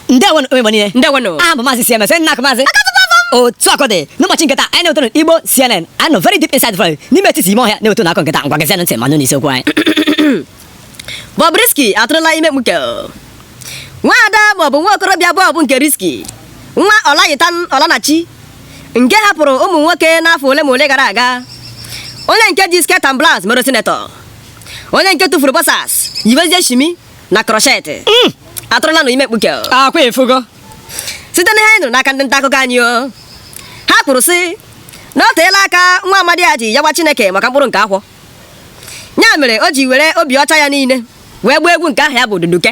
ndewo nụ ụmụ Igbo niile ndewo nụ aha m bụ maazị cms nna maazị otu akụkọ dị n'ụbọchị nke taa anyị na-ewetara igbo cnn anyị nọ very deep inside valley n'ime etiti ime ọhịa na-ewetara unu akụkọ nke taa ngwa geezienụ ntị ma nụrụ isiokwu anyị Bobrisky atụrụla ime mkpuke nwaada Bob nwa okorobịa Bob nke Risky nwa ọlayitan ọlanachi nke hapụrụ ụmụ nwoke n'afọ ole ma ole gara aga onye nke ji skirt and blouse mere senator onye nke tụfuru boxers yiwezie shimi na crochet hmm. atụrụla nụ ime mkpuke akwa efugo site na ihe anyị nụrụ n'aka ndị nta akụkọ anyị o ha kwuru sị na ọ teela aka nwa amadi a ji yọwa chineke maka mkpụrụ nke afọ ya mere o ji were obi ọcha ya niile wee gụọ egwu nke aha ya bụ duduke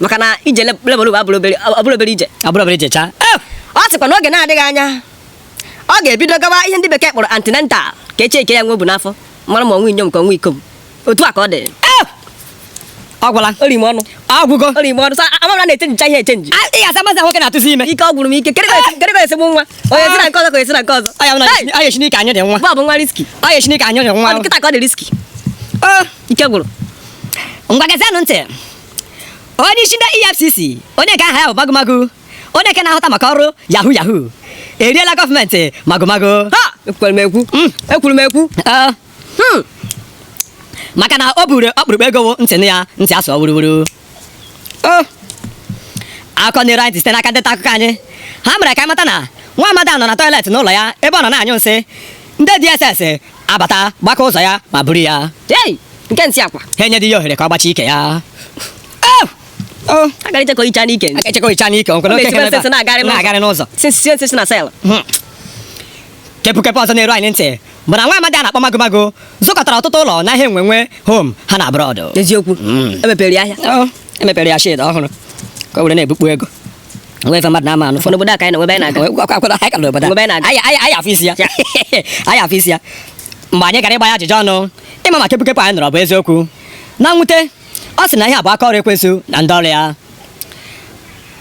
maka na ije labour room abụrọ obere ije abụrọ obere ije chaa eh! ọ sịkwa n'oge na-adịghị anya ọ ga-ebido gawa ihe ndị bekee kpọrọ antenatal ka e checkie ya nwa o bu n'afọ mara ma ọ nwa inyom ka ọ nwa ikom otu a ka ọ dị eh! ọ gwụla o rie m ọnụ agwụgo o rie m ọnụ amara na-echenjicha ihe echenji ị ga-asa mazi nwoke na-atụzi ime ike ọ gwụrụ m ike kedụ ka e si ebu nwa onye si na nke ọzọ ka esi na nke ọzọ ọ ya chineke anyị dị nwa Bob nwa Risky ọ ya chineke anyị dị nwa kịta ka ọ dị risky eh! ike gwụrụ ngwa geezienụ ntị onye isi ndị efcc onye nke aha ya bụ magomago onye nke na-ahụta maka ọrụ yahoo yahoo eriela gọọmenti magomago ha ekwuru m ekwu hmm. ekwuru m ekwu ah. hmm. maka na o buru ọkpụrụkpụ ego ntị ya ntị asụ wuruwuru oh. akụkọ na-eru anyị site n'aka ndị nta akụkọ anyị ha mere ka anyị mata na nwa amadi a nọ na toilet n'ụlọ ya ebe ọ nọ na-anyụ nsị ndị DSS abata gbaka ụzọ ya ma buru ya Hey! Nke nsị akwa. ha enyedịghị ya ohere ka ọ gbachie ike ya Au! Oh, A gara ichekọ icha n'ike. aka echekwa icha n'ike o nwere Ọ oke na-esikwa ihe nsị nsị na-agagharị n'ụzọ. na-agagharị n'ụzọ Sinsi sie nsị si na cell. kepụkepụ ọzọ na-eru anyị ntị bụ na nwa amadi a na-akpọ magomago zụkọtara ọtụtụ ụlọ na ihe enwenwe home and abroad Eziokwu. Emepere ya ahịa. Ọ, emepere ya shed ọhụrụ ka o were na-ebukpu ego o nwe ife mmadụ na-ama anụ fọdụ obodo a ka anyị nọ e nwe ebe anyị na-aga anyị ka nọ obodo a anyị afụ isi ya anyị afụ isi ya mgbe anyị gara ịgba ya ajụjụ ọnụ ịma ma kepụkepụ anyị nụrụ bụ eziokwu na mwute ọ sị na ihe a bụ aka ọrụ ekwensu na ndị ọrụ ya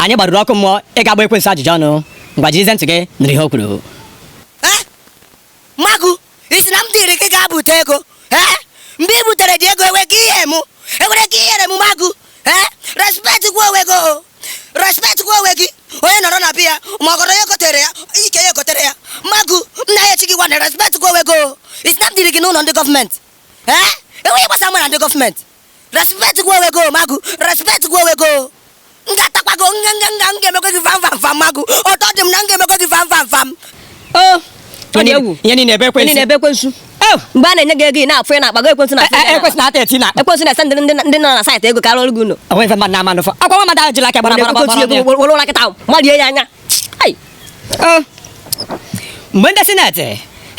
anyị gbaruru ọkụ mmụọ ịga gbaa ekwensu ajụjụ ọnụ ngwa jirizie ntị gị nụrụ ihe o kwuru ị sị na m duru gị gaa bute ego ee mgbe i buteredị ego enweghị ihe mụ enwereghị ihe ruru m Magu ee respectikwa onwe gị o respectikwa onwe gị onye nọrọ na be ya ma ọgọdọ ya ekotere ya ike ya ekotere ya Magu m na ya echi gị gwana respectikwa onwe gị o ị sị na m duru gị n'ụlọ ndị gọọmenti ee enweghị ihe gbasa mụ na ndị gọọmenti respect kwa onwe gị o Magu respect kwa onwe gị o m ga-atakwa gị nga nga nga m ga-emekwa gị vam vam vam magu ọtọ dị m na m ga-emekwa gị vam vam vam o ọ dị egwu ihe niile ebe Onye ekwensu na-ebe ekwensu Oh, mgbe a na-enye gị ego ị na-afụ ị na-akpago ekwensu na E- e- ekwensu na-ata eti na ekwensu na-ese ndị ndị- ndị nọ na saịtị ego karịa ọrụ gị ụlọ o nwe ife mmadụ na-ama n'ụfọ akwa nwa mmadụ ahụ jiri aka gbara gbara gbara gbara gbara. were ụra kịta marie ya anya Ai, Oh. mgbe ndị sineti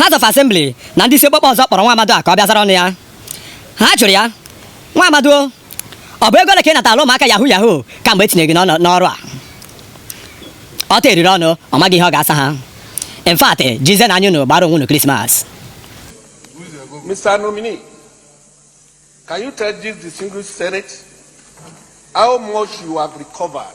House of Assembly na ndị isi okpokpo ọzọ kpọrọ nwa amadị a ka ọ bịa zara ọnụ ya ha jụrụ ya nwa amadị ọ bụ ego ole ka ị nataala ụmụaka yahu yahu kamgbe e tinye gị n'ọrụ a ọ ta eriri ọnụ ọ maghị ihe ọ ga-asa ha in fact jizenụ anya unu gbara onwe unu krismas Mr. Nominee, can you tell this distinguished Senate how much you have recovered